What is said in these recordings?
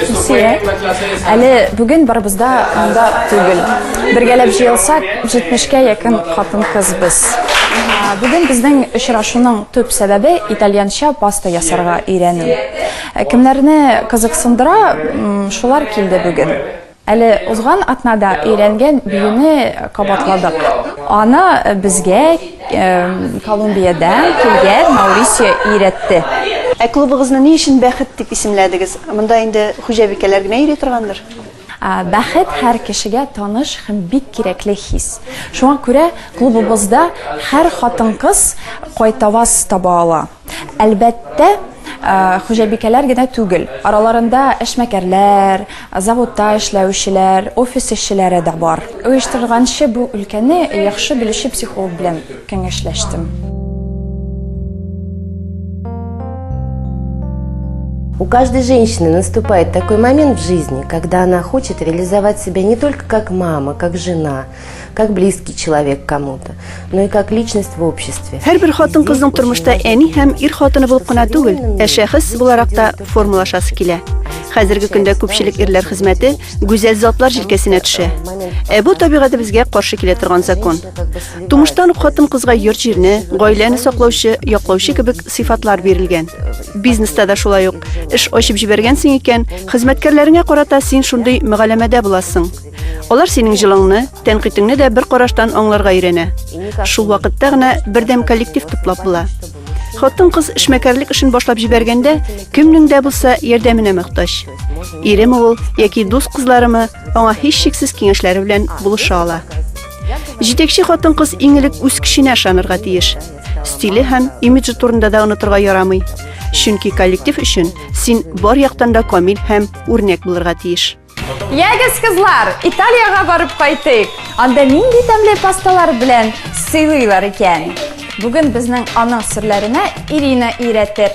Илсөя, әле бүген барыбыз да анда түгел. Бергәләп җыелсак, 70-кә якын хатын-кыз без. Бүген безнең очрашуның төп сәбәбе итальянча паста ясарга өйрәнү. Ә Кемнәрне кызыксындыра, м, шулар килде бүген. Әле узган атнада өйрәнгән биюне кабатладык. Аны безгә Колумбиядә килгән Маурисио өйрәтте. Ә клубыгызны ни өчен Бәхет дип исемләдегез? Монда инде хуҗабикәләр генә йөри торгандыр? Бәхет һәр кешегә таныш һәм бик кирәкле хис. Шуңа күрә клубыбызда һәр хатын-кыз кайтаваз таба ала. Әлбәттә, хуҗабикәләр генә түгел, араларында эшмәкәрләр, заводта эшләүчеләр, офис эшчеләре дә бар. Оештырганчы бу өлкәне яхшы белүче психолог белән кәңәшләштем. У каждой женщины наступает такой момент в жизни, когда она хочет реализовать себя не только как мама, как жена, как близкий человек кому-то, но и как личность в обществе. Һәр бер хатын-кызның тормышта әни һәм ир хатыны булып кына түгел, ә шәхес буларак та формалашасы килә. Хәзерге көндә күпчелек ирләр хезмәте гүзәл затлар җилкәсенә төшә. Ә бу табигатебезгә каршы килә торган закон. Тумыштан ук хатын-кызга йорт җирне, гаиләне саклаучы, яклаучы кебек сыйфатлар бирелгән. Бизнеста да шулай ук. Эш ачып җибәргәнсең икән, хезмәткәрләреңә карата син шундый мөгаләмәдә буласың. Алар синең җылыңны, тәнкыйтеңне дә бер караштан аңларга өйрәнә. Шул вакытта гына бердәм коллектив туплап була. Хатын-кыз эшмәкәрлек эшен башлап җибәргәндә, кемнең дә булса ярдәменә мохтаҗ. Иреме ул яки дус кызларымы, аңа һичшиксез киңәшләре белән булыша ала. Җитәкче хатын-кыз иң элек үз көченә ышанырга тиеш. Стиле һәм имиджы турында да онытырга ярамый. Чөнки коллектив өчен син бар яктан да камил һәм үрнәк булырга тиеш. Ягез, кызлар, Италиягә барып кайтыйк. Анда нинди тәмле пасталар белән сыйлыйлар икән? Бүген безнең аның серләренә Ирина өйрәтер.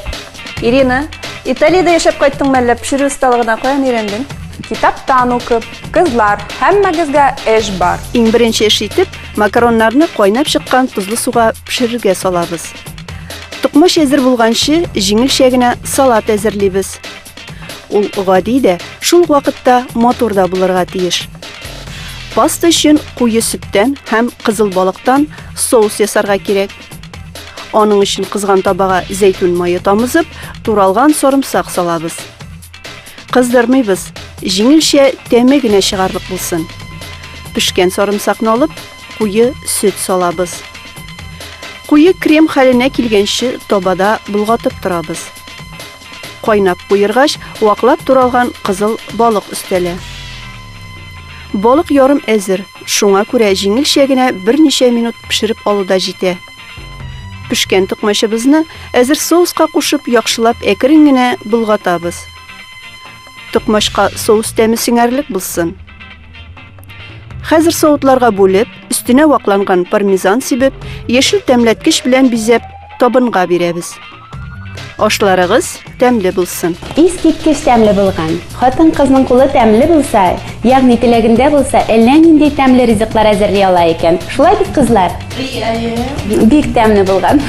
Ирина, Италиядә яшәп кайттың мәллә, пешерү осталыгына каян өйрәндең? Китаптан укып. Кызлар, һәммәгезгә эш бар. Иң беренче эш итеп, макароннарны кайнап чыккан тозлы суга пешерергә салабыз. Токмач әзер булганчы, җиңелчә генә салат әзерлибез. Ул гади дә, шул ук вакытта матур да булырга тиеш. Паста өчен куе сөттән һәм кызыл балыктан соус ясарга кирәк. Аның өчен кызган табага зәйтүн мае тамызып, туралган сарымсак салабыз. Кыздырмыйбыз, җиңелчә тәме генә чыгарлык булсын. Пешкән сарымсакны алып, куе сөт салабыз. Куе крем хәленә килгәнче табада болгатып торабыз. Кайнап куергач, ваклап туралган кызыл балык өстәлә. Балык ярым әзер, шуңа күрә җиңелчә генә берничә минут пешереп алу да җитә. Пешкән токмачыбызны әзер соуска кушып, яхшылап әкрен генә болгатабыз. Токмачка соус тәме сеңәрлек булсын. Хәзер савытларга бүлеп, өстенә вакланган пармезан сибеп, яшел тәмләткеч белән бизәп, табынга бирәбез. Ашларыгыз тәмле булсын. Искиткеч тәмле булган. Хатын-кызның кулы тәмле булса, ягъни теләгендә булса, әллә нинди тәмле ризыклар әзерли ала икән. Шулай бит, кызлар? Бик тәмле булган.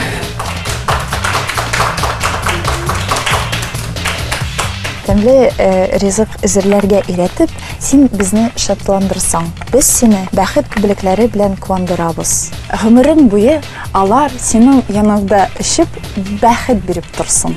Тәмле э, ризык әзерләргә өйрәтеп, Син безне шатландырсаң. Без сине бәхет күбелекләре белән куандырабыз. Гомерең буе алар синең яныңда эчеп, бәхет биреп торсын.